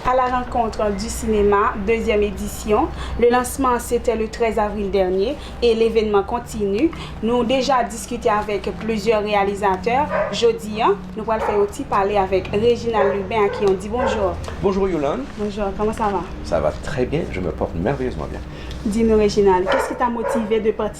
A la rencontre du cinéma, dezyèm edisyon. Le lancement se tè le 13 avril dènye e levenman kontinu. Nou deja diskite avèk plizyè reyalizatè. Jodi an, nou pral fè yon ti pale avèk Reginald Lubin a ki on di bonjour. Bonjour Yolande. Bonjour, comment ça va? Ça va très bien, je me porte merveilleusement bien. Di nou Reginald, qu'est-ce qui t'a motivé de participer?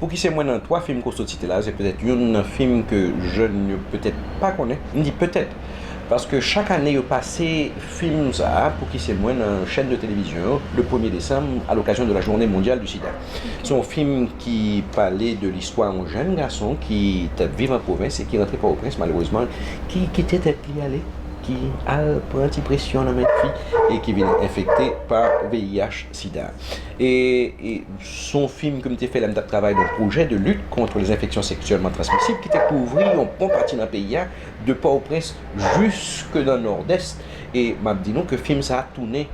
Pouki se mwen nan 3 fim Kosto site la, se petèt youn nan fim ke jèn yo petèt pa konnen, m di petèt, paske chak ane yo pase fim sa a, Pouki se mwen nan chèn de televizyon yo, le premye desanm, a l'okazyon de la journée mondiale du sida. Se yon fim ki pale de listwa yon jèn gason ki t ap viv an pwovens e ki rantre Pòtoprens malerezman, ki kite tèt li ale, ki al pran ti presyon nan men fi e ki vin enfekte pa VIH, sida. E Son fim ke m te fè lè m t ap travay nan pwojè de lit contre les infections sexuellement transmissibles ki te kouvri yon bon pati nan peyi a, de Pòtoprens jiske nan Nòdès. E m ap di nou ke fim sa a tounen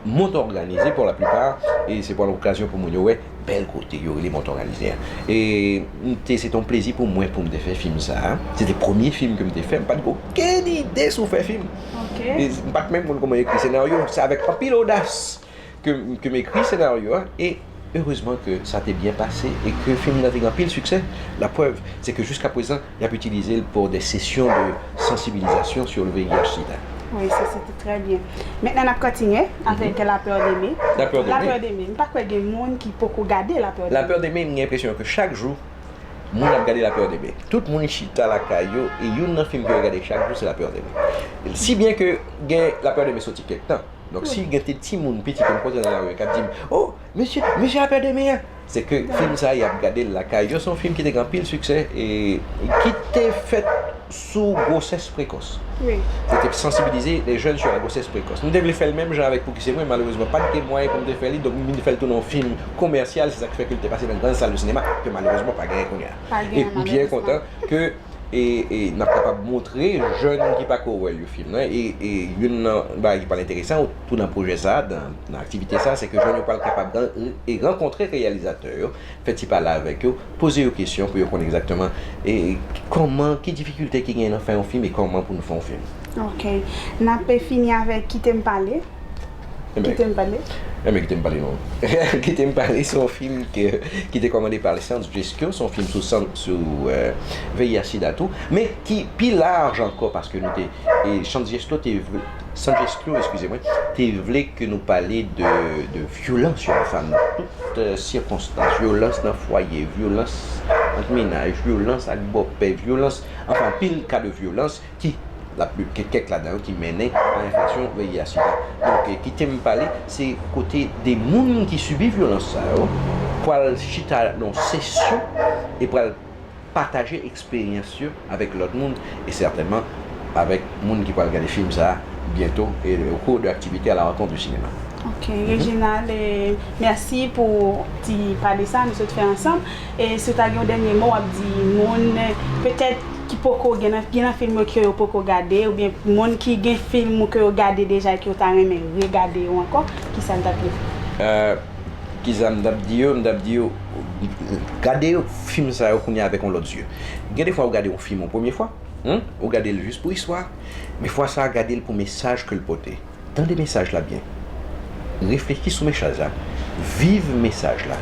Mont Organisé pour la plupart e se pral okazyon pou moun yo wè bèl kote yo rele Mont Organisé a. E m te se te yon plezi pou mwen pou m te fè fim sa a. Se te premye fim ke m te fè. M pa t gen okenn ide sou fè fim. M pa t menm konn kouman ekri senaryo. Se avèk anpil odas Ke m ekri senaryo a e erezman ke sa te byen pase e ke fim nan te gen anpil siksè. La prèv, se ke jiska prezan y ap itilize l pou de sesyon de sansibilizasyon sur le VIH sida. Wi, se se te trè byen. Mentnan n ap kontinye avèk La peur d'aimer. La peur d'aimer. La peur d'aimer. M pa kwè gen moun ki poko gade La peur d'aimer. La peur d'aimer, m gen enpresyon ke chak jou moun ap gade La peur d'aimer. Tout moun chita lakay yo e youn nan fim ke yo gade chak jou se La peur d'aimer. Si byen ke gen La peur d'aimer soti kèk tan. Donk si gen te timoun piti ke m koze nan lari kap di m, o, mesye, mesye a pè de mi an! Se ke fim sa a yap gade l lakay yo, se yon fim ki te gen anpil siksè e ki te fèt sou gwosès prekòs. Li te sansibilize lè jèn sou la gwosès prekòs. M te vle fè l menm jan avèk Pouki se mwen, malerezman pat gen mwayen pou m te fè li, donk m vin fè l tou nan yon fim komèsyal, se sa ki fè ke l te pase nan gran sal de sinema, ke malerezman pa genyen kounya. M byen kontan ke. e n ap kapab montre jèn ki pa ko wè l yo fim nan e youn nan bagay ki pral enteresan tou nan pwojè sa a nan aktivite sa a se ke jèn yo pral kapab rankontre reyalizatè yo fè ti pale avèk yo poze yo kesyon pou yo konn egzakteman kòman ki difikilte ki gen nan fè yon fim e kòman pou nou fè yon fim ok n ape fini avèk kite m pale. Kite m pale. Enben kite m pale non. Kite m pale se yon fim ki te kòmande pa Alexandre Jesco, se yon fim sou VIH sida tou, men ki pi laj ankò paske nou te, Alexandre Jesco te vle, Alexandre Jesco, eskize mwen, te vle ke nou pale de vyolans yo ansanm nan tout sikonstans, vyolans nan fwaye, vyolans ant menaj, vyolans ak bòpè, vyolans, anfen anpil ka de vyolans. ki la plu gen kèk ladan yo ki mennen a enflasyon VIH-Sida. Donk kite m pale se kote 2 moun ki sibi vyolans sa yo pral chita nan sesyon e pral pataje eksperyans yo avèk lòt moun e sètènman avèk moun ki pral gade fim sa byento e au cours de activités à la rencontre du cinéma. Ok Reginald mèsi pou ti pale sa nou sot fè ansanm e si w ta gen yon dènye mo w ap di moun petèt ki poko gen nan gen nan film yo ke yo poko gade ou byen moun ki gen film ou ke yo gade deja e ke yo ta renmen regade yo ankò kisa n tap di yo? Kisa m tap di yo, m tap di yo gade film sa yo kounya avèk yon lòt zye gen defwa ou gade yon film yon premye fwa ou gade l jis pou istwa men fwa sa gade l pou mesaj ke l pote. Tande mesaj la byen. Reflechi sou mechaj la, viv mesaj la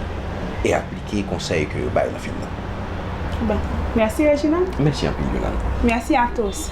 e aplike konsèy ke yo bay nan fim nan. Bon. Mèsi Reginald. Mèsi anpil Yolande. Mèsi a tous.